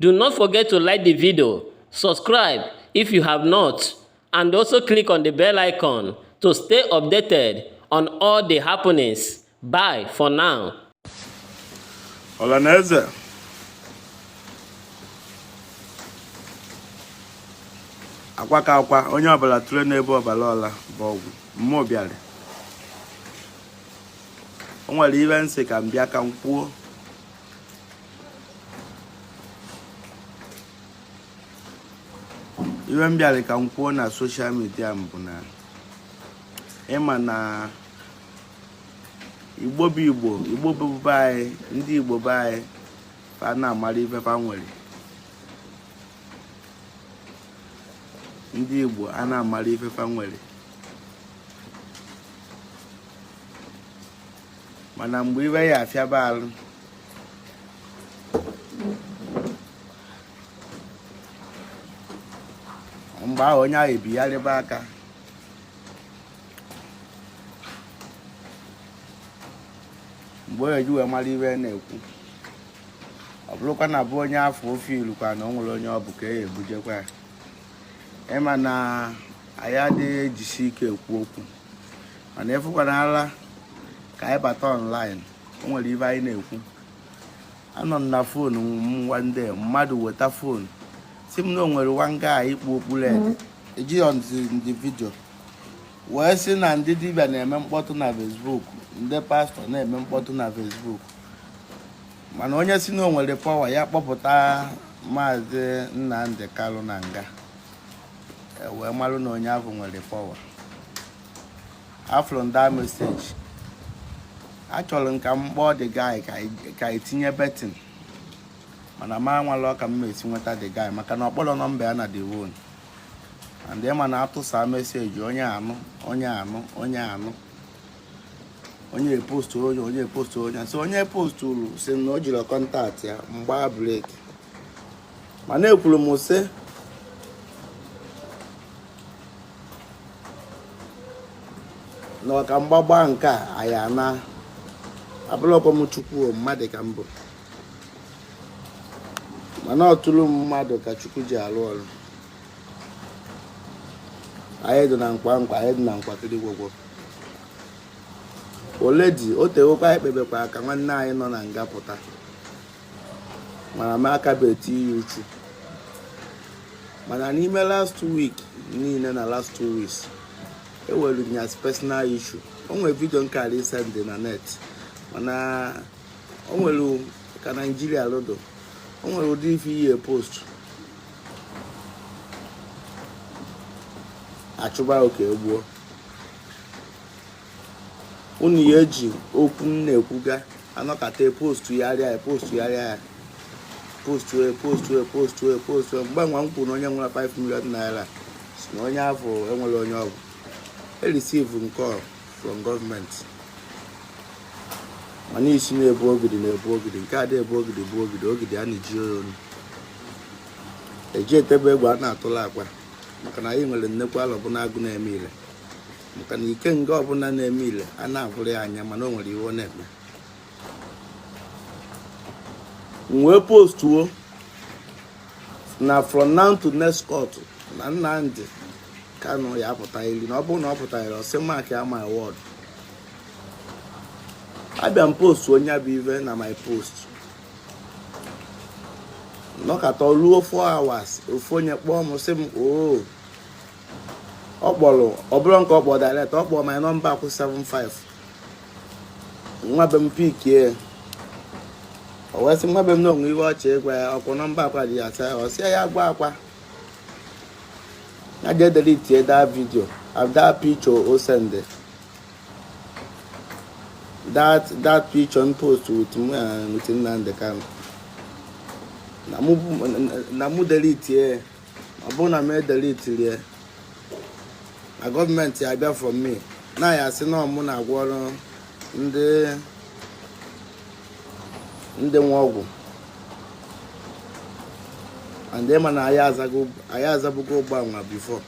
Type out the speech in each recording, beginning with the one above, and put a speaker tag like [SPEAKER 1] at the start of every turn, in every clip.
[SPEAKER 1] Do not forget to like the video, subscribe if you have not, and also click on the bell icon to stay updated on all the happenings. Bye for now. Ọlaneze
[SPEAKER 2] akwa ka akwa onye ọbụla tụrụ n'ebe ọbara ọla bụ ọgwụ mmụọ bịara o nwere ive m sị ka m bịa ka m kwuo ive m bịara ka m kwuo na social media m bụ na ịma na igbo bụ igbo igbo bụ be anyị ndị igbo be anyị fa na-amara ife fa nwere ndị igbo a na-amara ife fa nwere mana mgbe ive ya afịaba alụ mgbe ahụ onye ahụ ebigharịba aka mgbe onye ji wee mara ive a na-ekwu ọ bụrụkwa na bụ onye afọ ofe ilukwa na o nwere onye ọ bụ ka e ebujekwa ya ịma na anyị adịghị ejisi ike ekwu okwu mana ịfụkwana ala ka anyị bata online o nwere ive anyị na-ekwu anọ m na phone m one day mmadụ weta phone sị m na o nwere one guy kpu okpu red ji phone do video wee sị na ndị dibịa na-eme mkpọtụ na Facebook ndị pastor na-eme mkpọtụ na Facebook mana onye sị na o nwere power ya kpọpụta maazị Nnamdi Kalu na nga e wee marụ na onye ahụ nwere power afụrụ m the message achọrọ m ka m kpọọ the guy ka anyị tinye betting mana m amalọ ka m esi nweta the guy maka na ọ kpọrọ number ya na the one and ịma na a tụsaa message onye anụ onye anụ onye anụ onye postu onye onye postu onye so onye posturu sị na o jirọ contact ya m gbaa brake mana ekwuru m sị na ọka mgbagba nke a anyị ana abụlọkwa m chukwu mmadụ ka m bụ mana ọ through mmadụ ka chukwu ji alụ ọrụ anyị dị na nkwa nkwa anyị dị na nkwa kiri gwogwo already o tewokwa anyị kpebekwa ka nwanne anyị nọ na nga pụta mana m akabeghị ya uchu mana n'ime last week niile na last two weeks ewere ya as personal issue o nwere vidio nke anyị send na net mana o nwere ka naijiria lodo o nwere ụdị ife ị post achụba ka e gbuo unu ya eji okwu m na-ekwuga anọkata postu yarịa ya postu yarịa ya postu e postu e postu e postu e mgbe nwa m kwuru na onye nwere 5 million naira si na onye afụ enwere onye ọbụ receive call from gọọmenti mana isi na-ebu ogidi na-ebu ogidi nke a na-ebu ogidi bụ ogidi ogidi a na-eji oyi onu eji etebe egwu a na-atụla akwa maka na anyị nwere nnekwu alọ bụ na-agụ na-eme ile maka na ike nga ọbụla na-eme ile a na-abụrụ ya anya mana o nwere ive ọ na-eme m wee postuo na from now to next court na Nnamdi Kanu ya apụta iri na ọ bụrụ na ọ pụtara iri ọ sị mark my word abịa m post onye bụ ive na my post nọkata ruo 4 hours ofu onye kpọọ m sị m oo ọ kpọrọ ọ bụrọ nke ọ kpọrọ direct ọ kpọrọ my number kwụ 75 nwa be m pikie o wee sị nwa be m na o nwe ive ọ chọ ịgwa ya ọkwụ nọmba papa gị ya asa ọ sị ya gwa papa ya jee delete that video or that picture o send that that picture m post with m uh, with Nnamdi Kanu na mụ delete ọ bụrụ na m edelitirie na gọọmenti ya abịa for me na ha sị na ọ mụ na-agwọrụ ndị nwa ọgwụ and ịma na anyị azago- anyị azabugo ụgbọ nwa bifo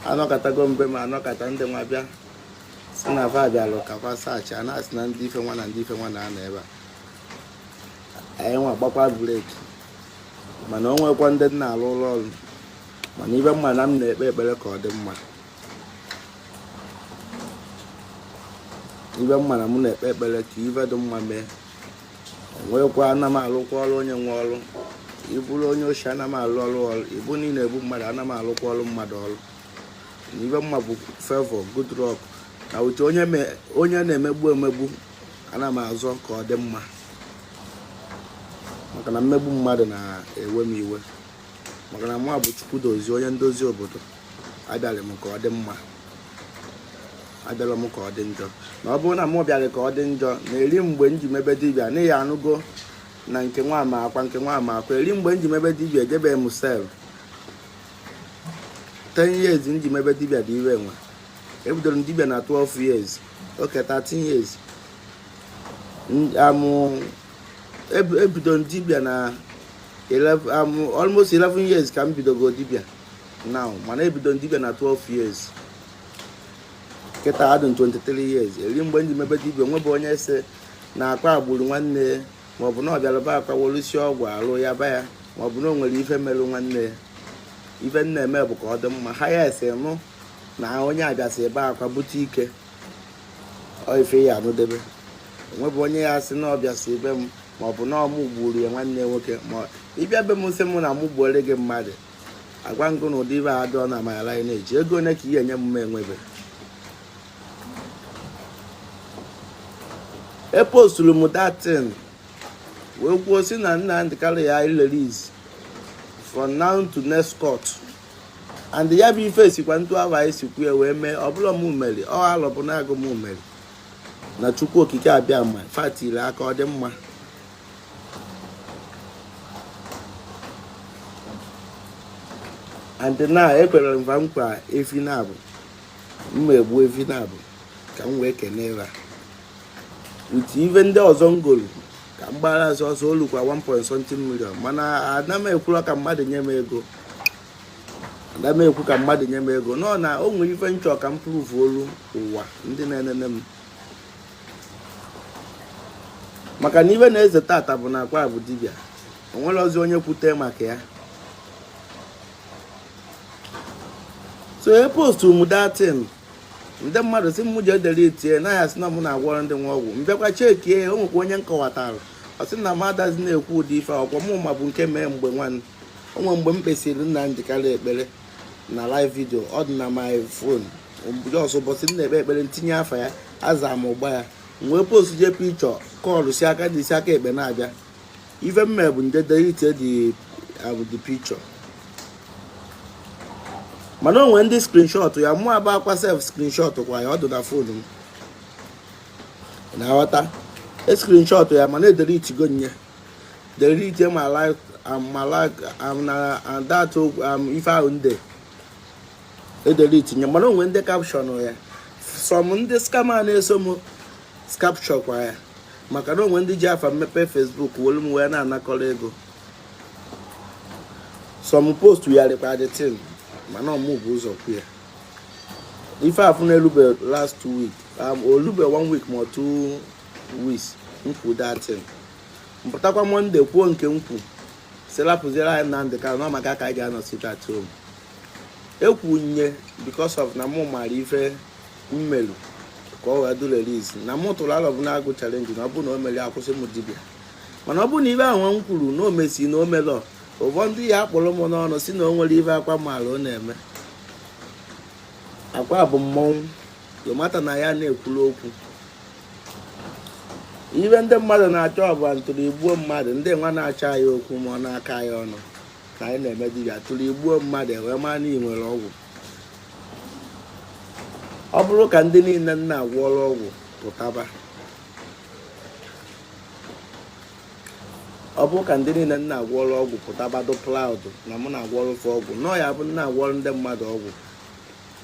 [SPEAKER 2] anọkatago mbe ma anọkata ndị nwa bịa sị na va bịalụ ka va search a na-asị na ndị ife nwa na ndị ife nwa na-anọ ebe a anyị nwa gbakwa breki mana o nwekwa ndị m na-alụlụ ọrụ mana ive m ma na m na-ekpe ekpere ka ọ dị mma ive m ma na m na-ekpe ekpere ka ive dị mma mee o nwekwa ana m alụkwa ọrụ onye nwe ọrụ ịbụrụ onye oshi ana m alụ ọrụ ọrụ ịbụ na ị na-egbu mmadụ ana m alụkwa ọrụ mmadụ ọrụ na ive m ma bụ fevọ good luck na uche onye na-emegbu emegbu ana m azọ ka ọ dị mma maka na mmegbu mmadụ na-ewe m iwe maka na mwa bụ Chukwudozie onye ndozi obodo abịara m ka ọ dị mma abịarọ m ka ọ dị njọ na ọ bụrụ na m bịara ka ọ dị njọ na eri mgbe m ji mebe dibịa na ị ya-anụgo na nke nwa ama akwa nke nwa ama akwa eri mgbe m ji mebe dibịa ejebe m sef ten years m ji mebe dibịa dị iwe nwa ebidoro m dibịa na 12 years okay 13 years ebido m dibịa na almost 11 years ka m bidogo dibịa now mana ebido m dibịa na 12 years kịta adị m 23 years eri mgbe m ji mebe dibịa o nwebe onye sị na Akwa gburu nwanne maọbụ na ọ bịalụ be Akwa gwọlụsị ọgwụ alụ ya ba ya maọbụ na o nwere ife merụ nwanne ife m na-eme bụ ka ọ dị mma ha ya-asị nụ na onye abịasị be Akwa bute ike ọ ife ị ya-anụdebe o nwebe onye ya-asị na ọ bịasị be m ma ọ bụ na ọ mụ gburu ya nwanne nwoke ma ị bịa be m sị m na mụ gbuore gị mmadụ agwa m gị na ụdị ive a dịrọ na amanyala anyị na-eji ego one ka ị ya-enye m enwebe eposturu m that thing wee kwuo sị na Nnamdi Kanu ya release from now to next court and ya bụ ife sikwa etu ahụ anyị si kwu ya wee mee ọ bụrọ m mere ọ alọ bụ na agwụ m mere na Chukwu okike abịama fa tiri aka ọ dị mma and na ekwere m va nkwa efi naabọ m ma-egbu efi naabọ ka m wee kene ha with ife ndị ọzọ m golu ka m gbara ọsọ ọsọ olukwa 1.something million mana ana m ekwuru ka mmadụ nye m ego ada m ekwu ka mmadụ nye m ego no na o nwere ife m chọ ka m prove-olu ụwa ndị na-enene m maka na ive na-ese tata bụ na Akwa bụ dibịa o nwere ọzọ onye kwute maka ya so epostu m that thing ndị mmadụ sị m jee deletie na a ya-asị na m na-agwọrọ ndị nwa ọgwụ m bịakwa checkie o nwekwa onye m kọwatara ọ sị na m adazi na-ekwu ụdị ife ọkwa mụ ma bụ nke mee mgbe nwanne o nwe mgbe m kpesịrị Nnamdi Kanu ekpere na live video ọ dị na my phone just ụbọchị m na-ekpe ekpere m tinye afa ya aza m ụgba ya wee post the picture kọlụ si aka dị isi aka ekpe na-abịa ife m me bụ m je delete the picture mana o nwere ndị screenshot ya mụwa bụ Akwa sef screenshot kwa ya ọ dị na phone m na-aghọta e screenshot ya mana edeletigo m ya they reach my life um, my life um, na and that um, ife ahụ ndị edelete nye mana o nwe ndị capture ya some ndị scammer na-eso m capture kwa ya maka na o nwe ndị ji afa m mepe Facebook wolu m wee na-anakọrọ ego so m postgharịkwa the thing mana ọ mụ bu ụzọ kwu ya ife afụ na-elube last two week um, olube one week ma two weeks m kwu that thing m pụtakwa Monday kwuo nke m kwu sị lapụziere anyị Nnamdi Kanu na maka ka anyị ga-anọ sit at home ekwunye because of na mụ mara ife m melu ka ọ wee do release na mụ tụrụ Alọbụnagụ challenge na ọ bụ na o mere akwụsị m dibịa mana ọ bụ na ife ahụ m kwuru na o mesi na o melọ ụfọdụ ya akpọrọ m n'ọnụ si na o nwere ife Akwa maala ọ na-eme Akwa bụ mmọnwụ lomata na ya na-ekwuru okwu ife ndị mmadụ na-achọ ọ bụ ntụrụ i gbuo mmadụ ndị nwa na-achọ anyị okwu ma ọ na-akọ anyị ọnụ na anyị na-eme dibịa tụrụ i gbuo mmadụ e wee mara na ị nwere ọgwụ ọ bụrụ ka ndị niile m na-agwọrọ ọgwụ pụtaba ọ bụrụ ka ndị niile m na-agwọrọ ọgwụ pụtaba dụ proud na mụ na-agwọrụ fa ọgwụ nọọ ya bụ m na-agwọrụ ndị mmadụ ọgwụ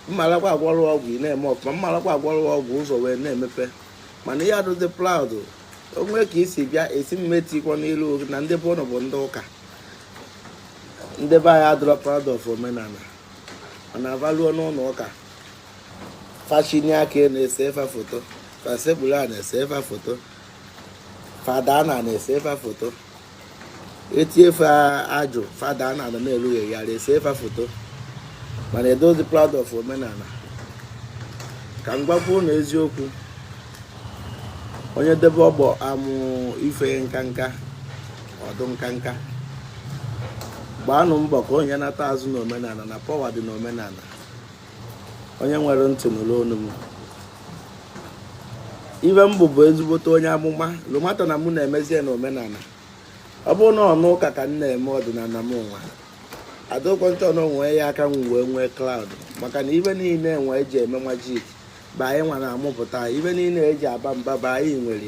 [SPEAKER 2] m marakwa a gwọrụ ọgwụ ị na-eme ọfụma m marakwa a gwọrụ ọgwụ ụzọ wee na-emepe mana ihe adụdị proud o nwe ka i si bịa esi mmetikwa n'ilu na ndị bụ ụnụ bụ ndị ụka ndị be anyị adụrọ proud of omenala mana fa luo n'ụlọ ụka fa chinie aka a na-ese fa foto fa sekpuru a na-ese fa foto fa daa ana a na-ese fa foto e tie fa ajụ fa daa ana na-erughị ya esee fa foto mana adụzi proud of omenala ka m gwakwu na eziokwu onye debe ọgbọ amụ ife nka nka ọdụ nka nka gbaanụ mbọ ka onye nata azụ n'omenala na power dị n'omenala onye nwere ntị nụrụ onu m ife m bụ bụ ezigbote onye amụma lomata na mụ na-emezie na omenala ọ bụrụ n'ụnọ ụka ka m na-eme ọdịnala m nwa adokwa ntọ na o nwe ya ka m wee nwee crowd maka na ife niile e nwe e ji eme magic bụ anyị nwa na-amụpụta ife niile e ji aba mba bụ anyị nwere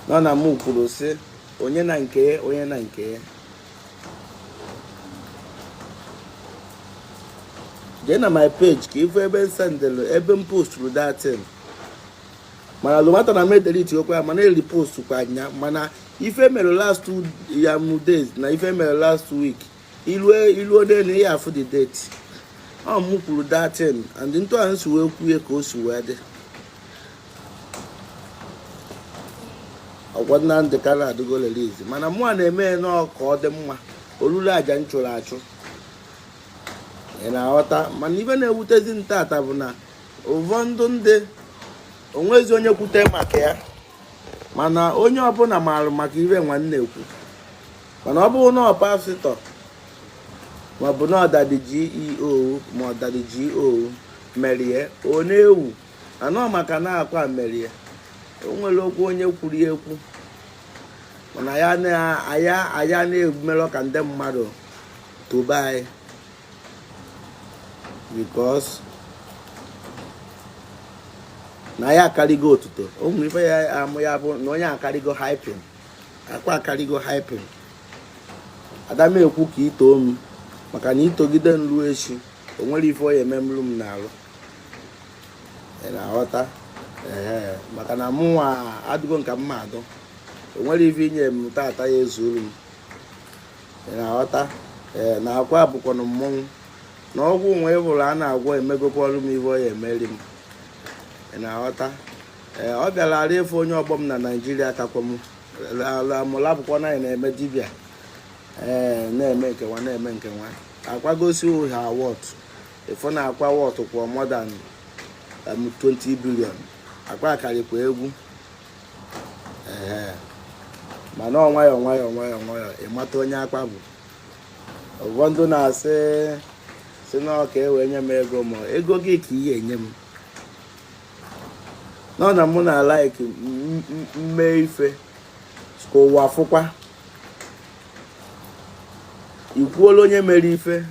[SPEAKER 2] ya na m kwuru sị onye na nke ya onye na nke jee na my page ka ị fụ ebe m sendịlụ ebe m posturu that thing mana lụmata na m deletekwa ya mana e repostkwara ya mana ife mere last two um days na ife mere last week i luo i luo n'elu ihe afụ the date ọ mụ kwuru that thing and etu ahụ si wee kwuo ya ka o si wee dị ọgwa Nnamdị Kanụ adịgo release mana mụwa na-eme ya nọọ ka ọ dị mma o lulu aja m chụrụ achụ ị na-aghọta mana ife na-ewutezi m tata bụ na ụfọdụ ndị o nwezi onye kwute maka ya mana onye ọbụla maara maka ife nwa m na-ekwu mana ọ bụrụ na ọ pastor maọbụ na ọ daddy GO ma ọ daddy GO merie ọ na-ewu mana ọ maka na ọ akwa merie o nwere okwu onye kwuru ya ekwu mana ya na- anyị anyị ana-emelọ ka ndị mmadụ tobe anyị because na anyị akarịgo otuto o nwere ife ya amụ ya bụ na onye akarịgo hyping akwa akarịgo hyping ada m ekwu ka i too m maka na i togide m ruo echi o nwere ife ọ ya-emelu m n'arụ na-aghọta ee maka na mụnwa adịgo ka mmadụ o nwere ife i nye m tata ya ezuru m ị na-aghọta ee na akwa bụkwanụ mmọnwụ na ọgwụ nwe ịbụrụ a na-agwọ emegokwa ọrụ m ife ọ ya emeri m ị na-aghọta ee ọ fịara arụ ịfụ onye ọgbọ m na naijiria kakwa m mụla bụkwa na anyị na-eme dibịa ee na-eme nke nwa na-eme nke nwa akwa gosi ha worth Ị fụ na akwa worth kwa more than um, 20 billion akwa akarịkwa egwu ee mana ọ nwayọọ nwayọọ nwayọọ nwayọọ ị mata onye akwa bụ ụfọdụ na-asị si na ọ ka e wee nye m ego ma ego gị ka ị ya-enye m nọ na mụ na-alike m mee ife ka ụwa fụkwa i kwuola onye mere ife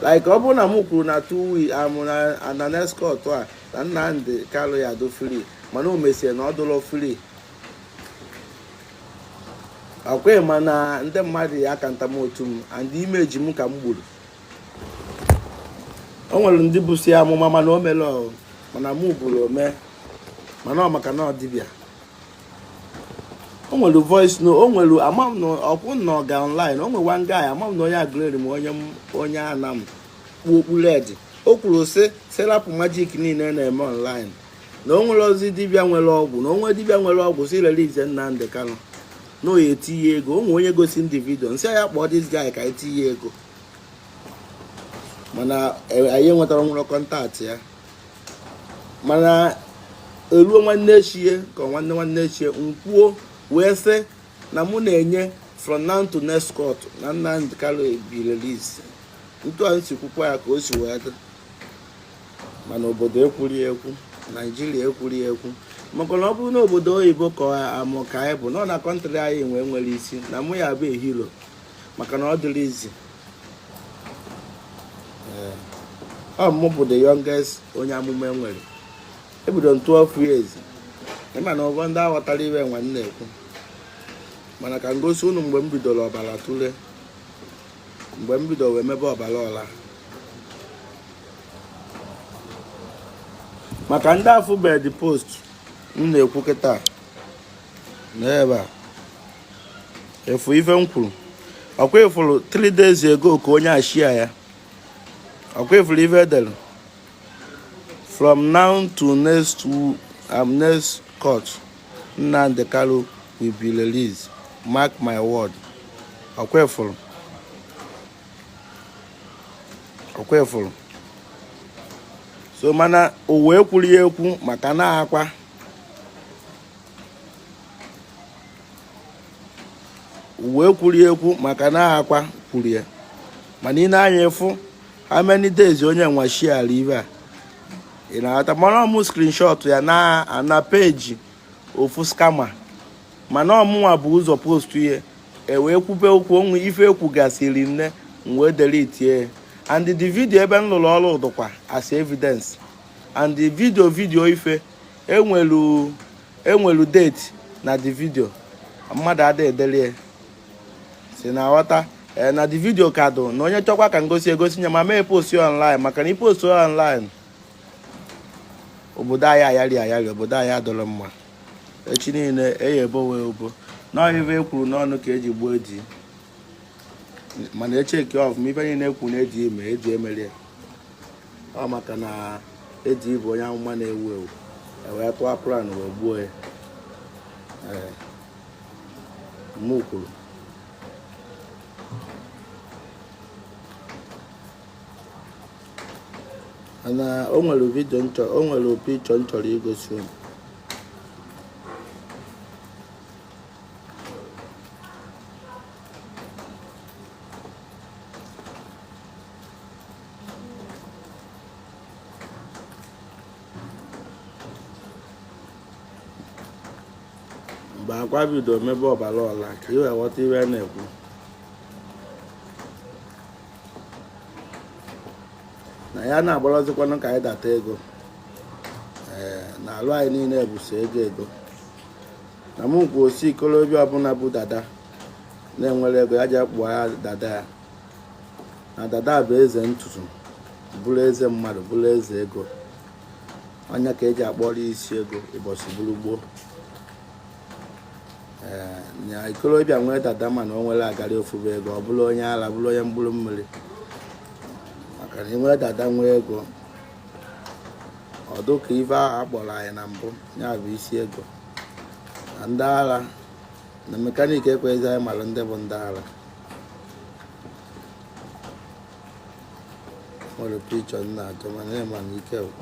[SPEAKER 2] like ọ bụrụ na m kwuru na two weeks amụ um, na na next court a na Nnamdi Kanu ya-adụ free mana o mesie na ọ dụlọ free ọ kwa ị ma na ndị mmadụ ya aka ntam otu m and image m ka m gburu o nwere ndị busịa amụma mana o merọ mana mụ buru o mee mana ọ maka na ọ dibịa o nwere voice note o nwere ama m na ọkwụ na ọ ga online o nwere one guy ama m na onye Aguleri m onye m- onye ọ na-ekpu okpu red o kwuru sị sị rapụ magic niile na-eme online na o nwerọzi dibịa nwere ọgwụ na o nwee dibịa nwere ọgwụ sị release Nnamdị Kanụ na ọ ya-etinye ego o nwere onye gosi m the video m sị ya kpọọ this guy ka e tinye ego mana eh, anyị enwetarọ nwere contact ya mana eruo nwanne echie ka nwanne nwanne echie nkwuo wee sị na mụ na-enye from now to next court na Nnamdi Kanu be release etu a m si kwukwa ya ka o si wee dị mana obodo ekwuro ya ekwu naijiria ekwuro ya ekwu maka na ọ bụrụ na obodo oyibo ka amụ ka anyị bụ nọ na country anyị nwee nwere isi na mụ ya-abụ a hero maka na ọ dịrọ easy eh, ọ mụ bụ the youngest onye amụma e nwere ebido m 12 years ị ma na ụgwọ ndị aghọtarọ ife m na-ekwu mana ka m gosi unu mgbe m bidoro ọbara tụle mgbe m bidoro wee mebe ọbara ọla maka ndị afụbe the post m na-ekwu kịta n'ebe a ị fụrụ ife m kwuru ọkwa ị fụrụ 3 days ago ka onye a share ya ọkwa ị fụrụ ife e dere from now to next um, next court Nnamdi Kanu will be released mark my word ọkwa ị fụrụ ọkwa ị fụrụ so mana ụwa ekwuro ya ekwu maka na akwa ụwa ekwuro ya ekwu maka na akwa kwuru ya mana ị nee anya ị fụ how many days onye nwa shiara ife a ị na-aghọta mana ọ mụ screenshot ya na na page ofu scammer mana ọ mụnwa bu ụzọ post ya e wee kwube okwu o nwee ife e kwugasịrị m wee delete ya and the video ebe m lụrụ ọrụ dụkwa as evidence and the video video ife enwelu enwelu date na the video mmadụ ada edelie so ị na-aghọta ee na the video ka dụ na onye chọkwa ka m gosi egosi ya m ama epost online maka na i post online obodo anyị ayari ayari obodo anyị adụrọ mma echi niile eyi ebowe ebubo na ọ ya ife e kwuru n'ọnụ ka e ji gbuo Eddy mana e check ọfụma ife niile e kwu na Eddy me Eddy emero ya ọ maka na Eddy bụ onye amụma na-ewu ewu e wee tụọ plan wee gbuo ya mụ kwuru na o nwere video o nwere picture m chọrọ igosi unu mgbe Akwa bido mebe ọbara ọla ka ị wee ghọta ihe na-ekwu na ya na-agbalọzikwanụ ka anyị data ego ee na alụ anyị niile bụ sọ ego ego na m kwuo ọ sị ikolobịa ọbụla bụ dada na-enwerọ ego ya je kpụọ ya dada ya na dada bụ eze ntutu bụrụ eze mmadụ bụrụ eze ego onye ka e ji akpọrọ isi ego ụbọchị bụrụ gboo ee na ikolobịa nwee dada mana o nwerọ agarị ofube ego ọ bụrụ onye ala bụrụ onye mkpụrụ mmiri maka na i nwee dada nwee ego ọ dụ ka ife ahụ a kpọrọ anyị na mbụ ya bụ isi ego ndị ara na mekaniki ekweghịzi anyị mara ndị bụ ndị ara nwere pichọ nna atọ mana ị ma na ike gwụ.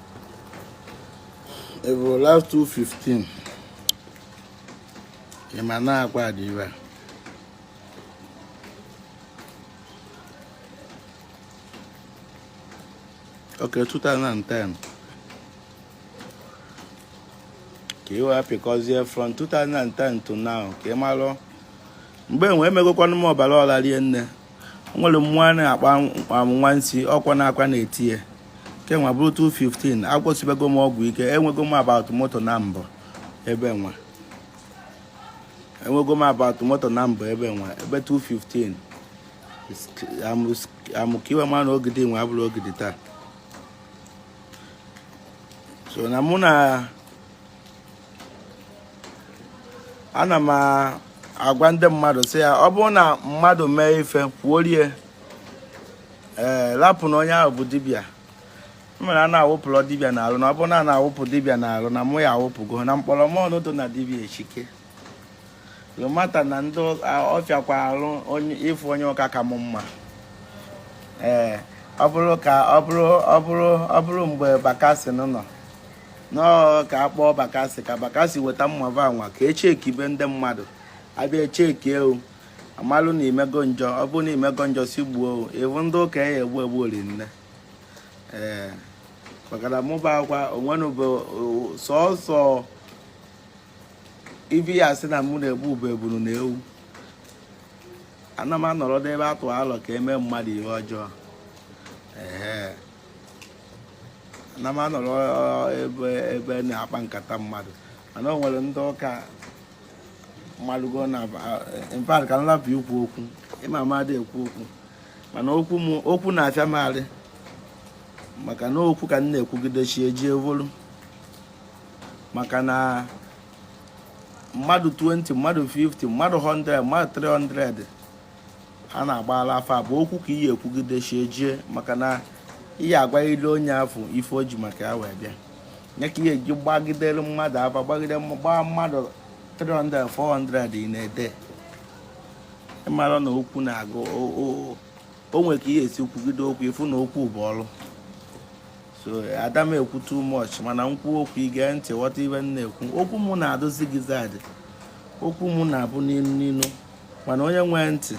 [SPEAKER 2] Evo last 215 ị ma na Akwa dibịa Okay, 2010. ka ị wee pịkọzie from 2010 to now ka ị malụ mgbe enwe emegokwanụ m ọbara ọla rie nne nwere mmụọ a na-akpa nwansi ọkwa na Akwa na-eti ya kenwa bụrụ 215 agwọsibego m ọgwụ ike enwego m about moto na mbụ ebe nwa enwego m about moto na mbụ ebe nwa ebe 215 am ka ị wee ma na Ogidi nwa abụrọ Ogidi taa so na mụ na ana m agwa ndị mmadụ sị ya ọ bụrụ na mmadụ mee ife kwuorie ee eh, lapụ na onye ahụ bụ dibịa mere a na-awụpụrọ dibịa n'alụ na ọ bụrụ na a na-awụpụ dibịa n'alụ na mụwa awụpụgo na mkpọrọ mọnụ dị na dibịa esike no matter na ndị ọ fịakwa arụ ịfụ onye ụka ka m mma ee ọ bụrụ ka ọ bụrụ ọ bụrụ ọ bụrụ mgbe Bakassi nọ nọọ ka a kpọọ Bakassi ka Bakassi weta mma va nwa ka e chekibe ndị mmadụ a bịa echeki ewu a malụ na i mego njọ ọ bụrụ na i mego njọ si gbuo ewu ndị ụka ya egbu egbu orinne ee maka na mụwa kwa onwe m bụ sọsọ ive ya asị na mụ na-egbu bụ ebunu na ewu ana m anọrọ n'ebe atụ alo ka e mee mmadụ ihe ọjọọ ee ana m anọrọ ebe ebe na-akpa nkata mmadụ mana o nwere ndị ụka marụgo in fact ka m lapụ ikwu okwu ị ma na m adị ekwu okwu mana okwu m okwu na-afịa m arụ maka na okwu ka m na-ekwugide chi ejie evolu maka na mmadụ 20 mmadụ 50 mmadụ 100 mmadụ 300 a na-agbala afa bụ okwu ka i ye-ekwugide chi ejie maka na ị ya-agwalịlị onye afụ ife o ji maka ya wee bịa nye ka i ye-eji gbagidere mmadụ afa gbagide gbaa mmadụ 300 400 in a day ị mara na okwu na-agụ o nwere ka i ye-esi kwugide okwu ị fụ na okwu bụ ọrụ so ada m ekwu too much mana m kwuo okwu i gee ntị ghọta ive m na-ekwu okwu m na-adị zigzag okwu m na-abụ n'ilu n'ilu mana onye nwee ntị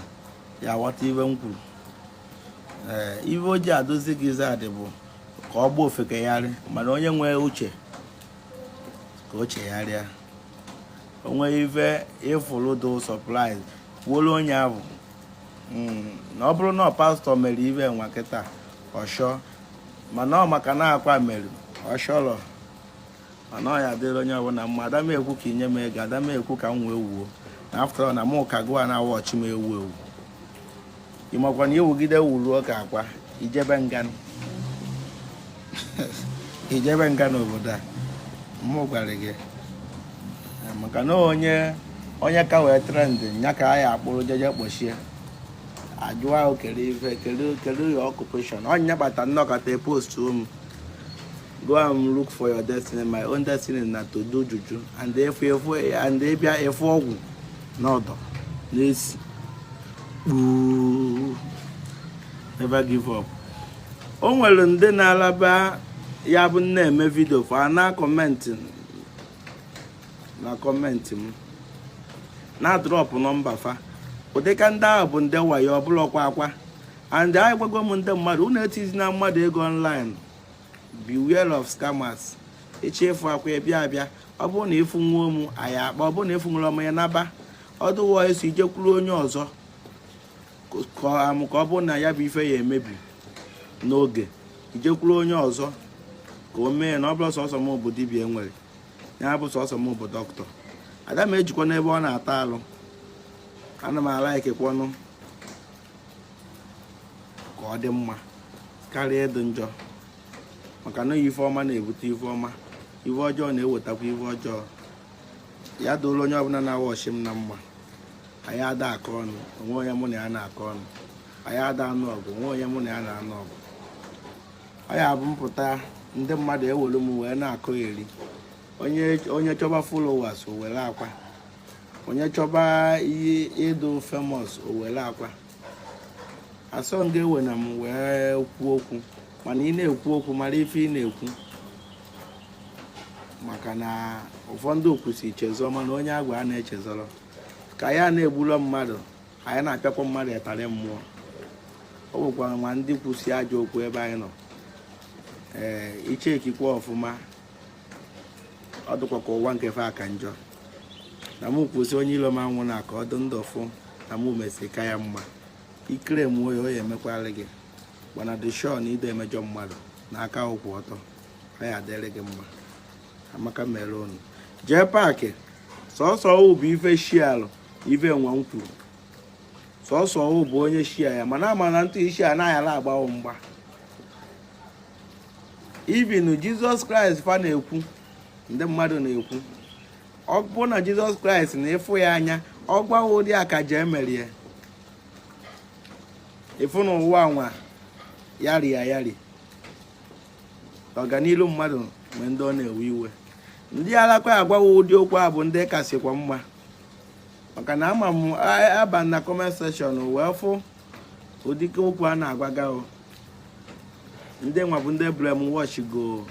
[SPEAKER 2] ya ghọta ive m kwuru ee eh, ive o ji adị zigzag bụ ka ọ gbaa ofeke gharị mana onye nwee uche ka o chegharịa o nwe ife ị fụlụ dị surprise kwuolu onye ahụ hmm, na ọ bụrụ na pastọ mere ive nwa kịta ọshọ mana ọ maka na akwa mere ọshọrọ mana ọ ya-adịrị onye ọbụla mma ada m ekwu ka i nye m ego ada m ekwu ka m wee wuo na after all na mụ ka gụwa na-awọchị m ewu ewu ị makwa na i wugide wuruo ka akwa i jebe nga i jebe nga n'obodo a mụ gwara gị maka na onye onye ka wee trend ya ka a ya akpụrụ jeje kpọchie a jụwa kedụ ife kedụ kedụ your occupation ọ ya kpata m nọkata post m go and look for your destiny my own destiny na to do juju and efu efu and dibịa ife ọgwụ n'ọdụ n'isi kpuu never give up o nwere ndị na-alaba ya bụ m na-eme vidio fa ana akọmentị na comment m na drop nọmba fa ụdịka ndị ahụ bụ ndị wayo ọ bụlọkwa Akwa and agwago m ndị mmadụ unu etizina mmadụ ego online beware of scammers ị chọ ịfụ Akwa ị ya-abịa abịa ọ bụrụ na ịfụ nwa ụmụ anyị akpa ọ bụrụ na ịfụ nwere ọmụ ya naba ọdụwa eso i jekwuru onye ọzọ kọọ amụ ka ọ bụrụ na ya bụ ife ya emebi n'oge i jekwuru onye ọzọ ka o mee na ọ bụlọ sọsọ m bụ dibia e nwere ya bụ sọsọ m bụ doctor ada m ejikwa n'ebe ọ na-ata alụ ana m ala ikekwanụ ka ọ dị mma karịa ịdị njọ maka na ife ọma na-ebute ife ọma ife ọjọọ na-ewetakwa ife ọjọọ ya dụrụ onye ọbụla na-awatch m na mma anyị ada akọ ọnụ o nwe onye mụ na ya na-akọ ọnụ anyị ada anụ ọgụ o nwe onye mụ na ya na-anụ ọgụ ọ ya bụ m pụta ndị mmadụ ewere m wee na-akọ eri onye chọba followers o were Akwa onye chọba ihe ịdụ famous o were Akwa asọ m ga-ewe na m wee kwuo okwu mana ị na-ekwu okwu mara ife ị na-ekwu maka na ụfọdụ kwusi chezọ mana onye a gwalụ echezọrọ ka anyị na-egburo mmadụ anyị na-apịakwa mmadụ ịtarị mmụọ o nwekwara nwa ndị kwusi ajọ okwu ebe anyị nọ ee ị checkikwa ọfụma ọ dịkwa ka ụwa nke fa ka njọ na m kwusi onye ilo m anwụna ka ọ dị ndụ fụ na m mesi ka ya mma ikere m oyi oyi emekwala gị mana dị sure na ị da emejọ mmadụ na aka ị kwụ ọtọ ọ ya-adịrị gị mma amaka mere unu jee paakị sọsọ bụ ife shialụ ive nwa m kwuru sọsọ ọwụ bụ onye shia ya mana ama na ntụ isi anaghị ala agbawo mgba even Jesus Christ fa na-ekwu ndị mmadụ na-ekwu ọ bụ na Jesus Christ na ịfụ ya anya ọ gwawa ụdị akaja emerie ị fụ na ụwa nwa yari ya yari ọganilu mmadụ mgbe ndị ọ na-ewe iwe ndị alakwa agwawa ụdị okwu a bụ ndị kasịkwa mma maka na ama m aba na comment section wee fụ ụdịka okwu a na-agwaga o ndị nwa bụ ndị brainwash go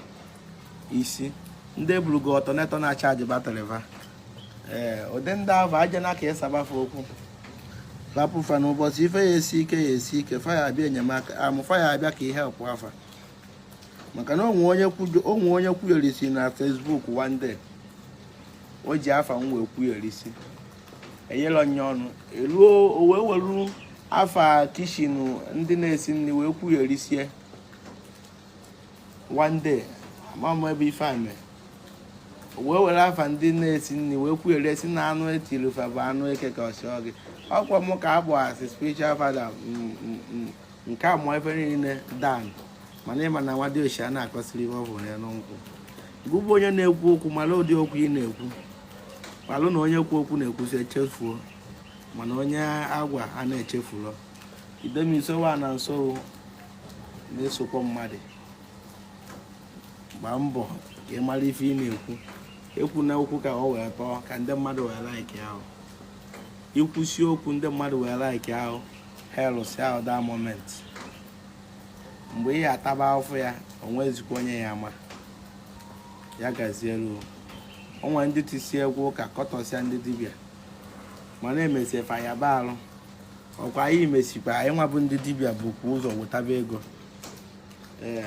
[SPEAKER 2] isi ndị burugo alternator na-achaji battery va ee ụdị ndị ahụ aja na ka ị saba fa okwu rapụ fa n'ụbọchị ife ya esi ike ya esi ike fa ya-abịa enyemaka amụ fa ya-abịa ka ihe pụ afa maka na o nwe onye kwuyere isi na Facebook one day o ji afa m wee kwuo erisi enyela onye ọnụ eruo o wee welu afa kitchen ndị na-esi nri wee kwuo erisie one day ama m ebe ife a mere o wee were afa ndị na-esi nri wee kwuo eresi na anụ etiri fa bụ anụ eke ka ọ sọ gị ọkwa m ka a bụ asị spiritual father nke a mụọ ife niile down mana ị ma na nwa diochi a na-akọsirọ ihe ọ hụrụ n'elu nkwụ gụ bụ onye na-ekwu okwu mara ụdị okwu ị na-ekwu malụ na onye kwu okwu na-ekwusi echefuo mana onye a gwa a na-echefulọ idemisowa na nso na-esokwa mmadụ gbaa mbọ ka ị mara ife ị na-ekwu ekwu na okwu ka ọ wee tọọ ka ndị mmadụ wee laikịa gị i kwusi okwu ndị mmadụ wee laikịa gị hailụsịa gị that moment mgbe ị ya-ataba afụfụ ya o nwezikwa onye ya ama ya gazielu o nwe ndị tisi egwu ụka kọtọsịa ndị dibịa mana e mesie fa ya ba alụ ọkwa anyị mesikwa anyị nwa bụ ndị dibịa bukwa ụzọ wetaba ego ee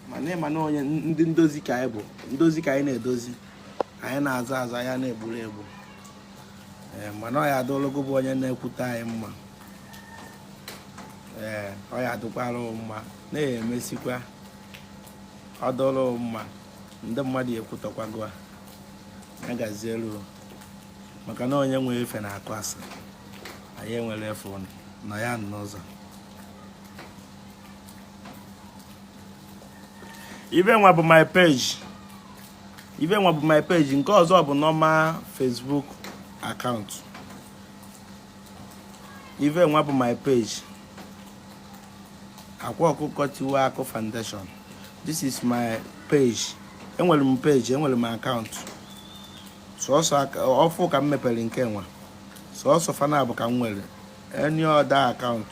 [SPEAKER 2] mana ị ma na onye ndị ndozi ka anyị bụ ndozi ka anyị na-edozi anyị na-azọ azọ anyị a na-egburo egbu ee mana ọ ya adịlụ gụ bụ onye na-ekwutọ anyị mma ee ọ ya adụkwara mma na-emesikwa ọ dụrụ mma ndị mmadụ ekwutọkwa gụ a ya gazielu maka na onye nwee ife na-akụ asị anyị enwere ife ụnụ nọ ya n'ụzọ ive nwa bụ my page ive nwa bụ my page nke ọzọ bụ normal Facebook account ive nwa bụ my page akwa ọkụkọ tiwara akị foundation this is my page enwere m page enwere m account sọsọ ofu ka m mepere nke nwa sọsọ fa naabọ ka m nwere any other account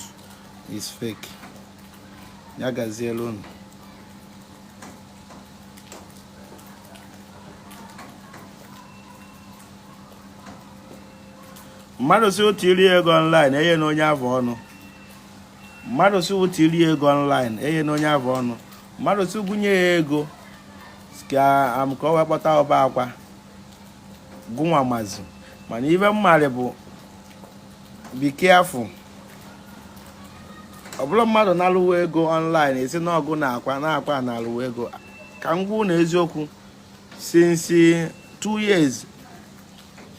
[SPEAKER 2] is fake ya gazielu unu mmadụ si otu iri ego online enyena onye afụ ọnụ mmadụ si otu iri ego online enyena onye afụ ọnụ mmadụ sị gụ nye ya ego ka am ka ọ wee kpọta ọba akwa gụnwa mazi mana ive m maara bụ be careful ọ bụlụ mmadụ na-alụwa ego online esi na ọgụ na akwa na akwa na-alụwa ego ka m gwa unu eziokwu since two years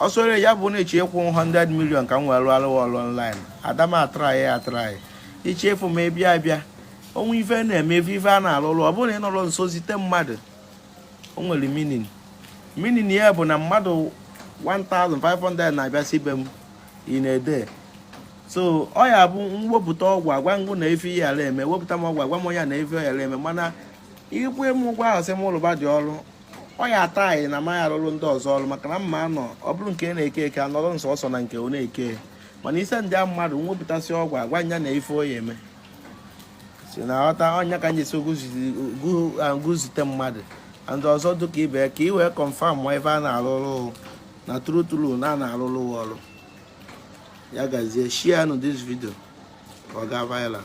[SPEAKER 2] ọ sọrọ ya bụ na-eche ịkwụ 100 million ka m wee rụọ alụwa ọrụ online adama atraị atraị ichefu m ebia abịa o nwe ife na-eme ife ife a na-alụ ọrụ ọ bụrụ na ị nọrọ nso zite mmadụ o nwere meaning meaning ya bụ na mmadụ 1500 na-abịasị be m in a day so ọ ya bụ m wepụta ọgwụ agwa m gụ na ife ya eme wepụta m ọgwụ agwa m onye na ife ya eme mana ịkwụ m ụgwọ ahụ sị m lụba gị ọrụ ọ ya ata anyị na amaghị arụrụ ndị ọzọ ọrụ maka na mma anọ ọ bụrụ nke na-eke eke anọrọ nsọ ọsọ na nke ọ na-eke mana ị sendịa mmadụ m wepụtasị ọgwụ agwa m ya na ife ọ ya eme so ị na-aghọta ọ ya ka m ji sị gụ zite mmadụ ndị ọzọ dịka ibe ka ị wee confirm ma ife a na-arụ ọrụ na true true na a na-arụrụ ọrụ ya gazie share nụ this video ka ọ gaa viral